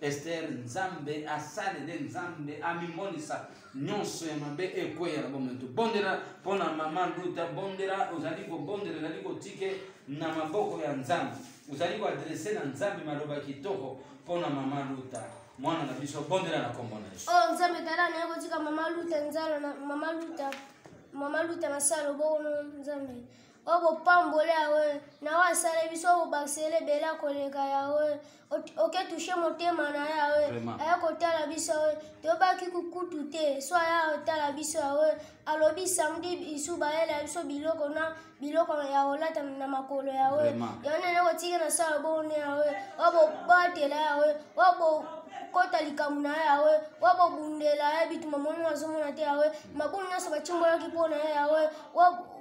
ester nzambe asali nde nzambe amimonisa nyonso ya mabe ekweya na bomoi tobondela mpo na mama luta bondela ozali kobondela ezali kotike na maboko ya nzambe ozali koadrese na nzambe maloba kitoko mpo na mama luta mwana na biso bondela na kombo na yesu oh, nzambe tala naye kotika mama luta nzalo mama luta mama luta na salo bongo nzambe oyo bopamboli yawe na oyo asala biso oyo bobakisela ebele akoleka yawe oke tushe motema na yawe aya kotala biso yawe toyebaki kukutu te so aya kotala biso yawe alobi samedi bisu bayela biso biloko na biloko ya kolata na makolo yawe yango nene kotika na sala bone yawe oyo bobatela yawe oyo kota likambo na ye yawe wa bobundela ye bituma moni azomona te yawe mabulu nyonso batimbolaki mpo na ye yawe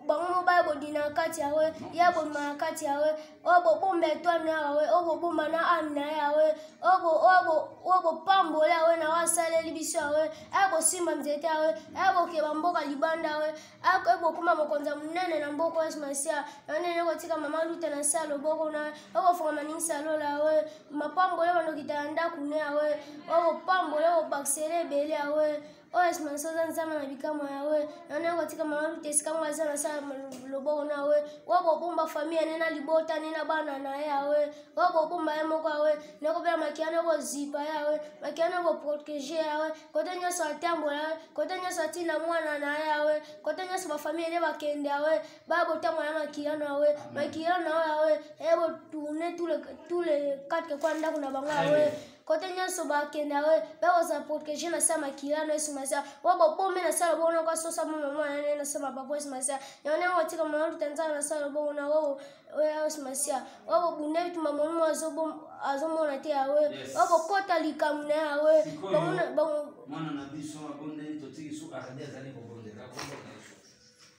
bango mobali bodina na kati ya we ye abomba na kati ya we oyo bobomba etwami ya we oyo bobomba na ami na ye ya we oyo bopambola ya we na oyo asaleli biso ya we aye bosimba nzete ya we aye bokeba mboka libanda ya we aye bokoma mokonzi ya monene na mboka yesu masiya yango ndenge kotika mama luta na se ya loboko na ye oyo bofungama ningisa ya lola ya we mapambola bandokita ya ndako ne ya we oyo bopambola oyo bobakisela ebele ya we oyo esimanisa oza nzambe na bikamwa ya we yango yango atika mama luta esika ngo aza na sala loboko na we wa bobomba fami ya ne na libota ne na bana na ye ya we wa bobomba ye moko ya we nakobela makia na kozipa ya we makia na koprotege ya we kote nyonso atambola ye kote nyonso atinda mwana na ye ya we kote nyonso bafamili ne bakende ya we baya botambola na makia na we makia na we ya we eye botourne tous les quatre kwa ndako na bango ya we kote nyonso bakende yango bakozala protege na sa makila na yesu masiya oyo bobomi na sala bongo noko asosa mama mwana na ye na sa mabapo yesu masiya yango nde motika mwana luta nzala na sala bongo na oyo oyo yesu masiya oyo bobunda bituma monimo azomona te yawe oyo bokota likambo na yawe mwana na biso abondeli totiki suka azali azali kobondela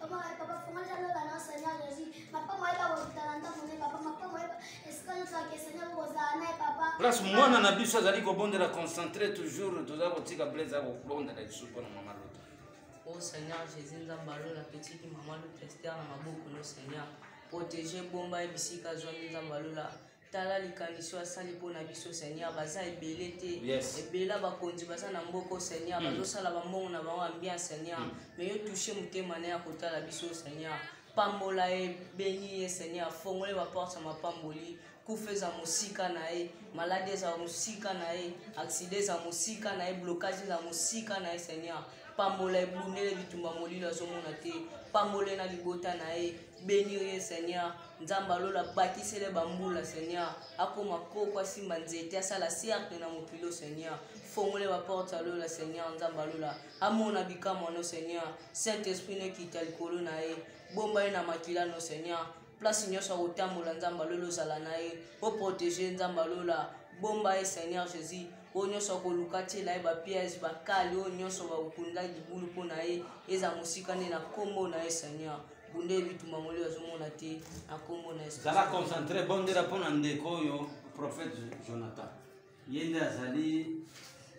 Papa, papa, fonga jalo la na Seigneur Jésus. Papa, moi ba botala nda mone papa, papa, moi ba escale ça que Seigneur ko za na papa. Place mwana na biso azali ko bondela concentrer toujours toza ko tika blaise ko bondela biso pona mama loto. Oh Seigneur Jésus nzamba lola petit mama loto Esther na maboko no Seigneur. Protéger bomba ebisika zwa nzamba lola. tala likanisi oyo asali mpo na biso seigneur baza ebele te yes. ebela bakonzi baza na mboko seigneur mm. bazosala bambongo na bango ambien seigneur mm. me yo touche motema na ya kotala biso seigneur pambola ye beni ye seigneur fongole baporte ya mapamboli kufa eza mosika na ye maladi eza mosika na ye aksida eza mosika na ye blokage eza mosika na ye seigneur pambola ebundele bitumba molilo azomona te pambole na libota na ye benir ye seigneur nzambe alola bakisele bambula seigneur akoma koko asimba nzete asala cercle na mokilo seigneur fongole baporte ya lola seigneur nzambe alola amona bikamwa no seigneur saint esprit nekita likolo na ye bomba ye na makila no seigneur place nyonso akotambola nzambe alola ozala na ye oprotege nzambe alola bomba ye seigneur jésus oyo nyonso akoluka atyela ye bapiège bakali oyo nyonso bakokunda libulu mpo na ye eza mosika nde na nkombo na ye seigneur bonde bitumba molio azomona te na nkombo na yesu zala concentre bondela mpo na ndeko oyo prophète jonathan ye nde azali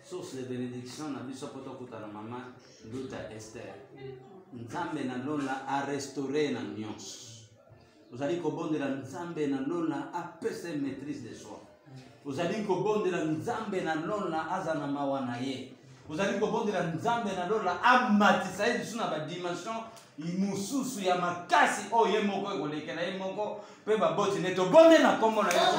source de bénédiction na biso mpo tokutana mama nduta ester nzambe na lola arestaure na nyonso ozali kobondela nzambe na lola apesa maîtrise de soi ozali kobondela nzambe na lola aza na mawa na ye ozali kobondela nzambe na lola amatisa ye lisusu na badimension mosusu ya makasi oyo ye moko ekolekela ye moko mpe baboti nde tobonde na nkombo na yesu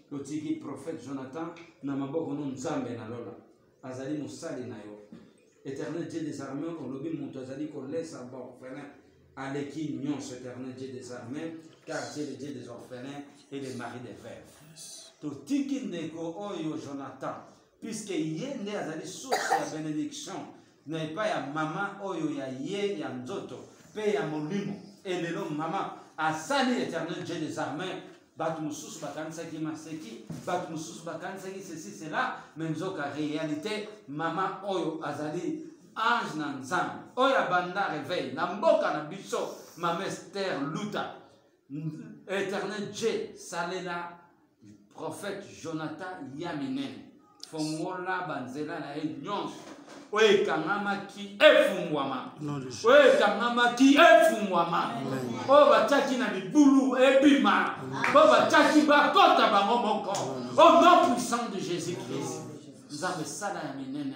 totiki prophète jonathan na maboko no nzambe na lola azali mosali na yo éternel dieu des armées olobi moto azali kolesa baorphelin aleki nyonso éternel dieu des armées car dieu le dieu des orphelins et le mari des veuves totiki ndeko oyo jonathan puiske ye nde azali source ya benediction na epai ya mama oyo ya ye ya nzoto mpe ya molimo elelo mama asali éternel dieu des armées bato mosusu bakanisaki maseki bato mosusu bakanisaki ceci cela me nzoka réalité mama oyo azali ange na nzambe oyo abanda reveil na mboka na biso mama ester luta Éternel Dieu, salela prophète Jonathan Yaminene. Fongola banzela na ye nyonso oyo ekangamaki efungwama oyo ekangamaki efungwama oyo batyaki na libulu ebima oyo batyaki bakota bango moko au nom puissant de jésus christ nzambe sala ya minene